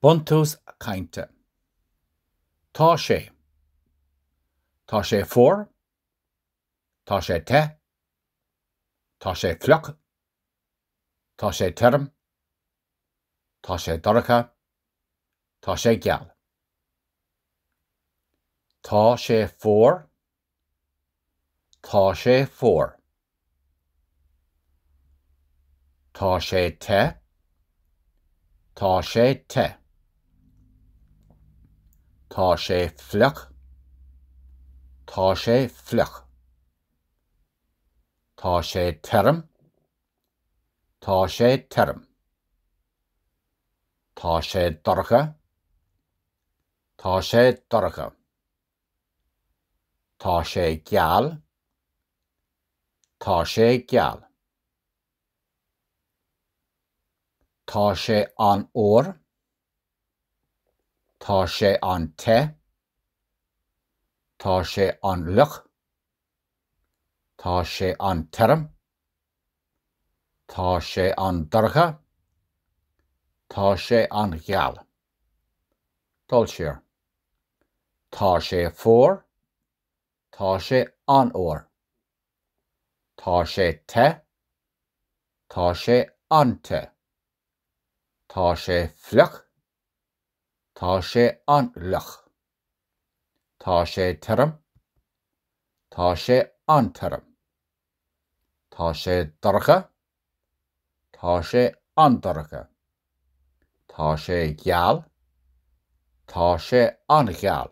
Buntús cainte. Tá sé. Tá sé fuar. Tá sé te. Tá sé fliuch. Tá sé tirim. Tá sé dorcha. Tá sé geal. Tá sé fuar. Tá sé fuar. Tá sé te. Tá sé te. Tá sé fliuch. Tá sé fliuch. Tá sé tirim. Tá sé tirim. Tá sé dorcha. Tá sé dorcha. Tá sé geal. Tá sé geal. Tá sé an-fhuar. Tá sé an-te. Tá sé an-fhliuch. Tá sé an-tirim. Tá sé an-dorcha. Tá sé an-gheal. Dul siar. Tá sé fuar. Tá sé an-fhuar. Tá sé te. Tá sé an-te. Tá sé fliuch. Tá sé an-fhliuch. Tá sé tirim. Tá sé an-tirim. Tá sé dorcha. Tá sé an-dorcha. Tá sé geal. Tá sé an-gheal.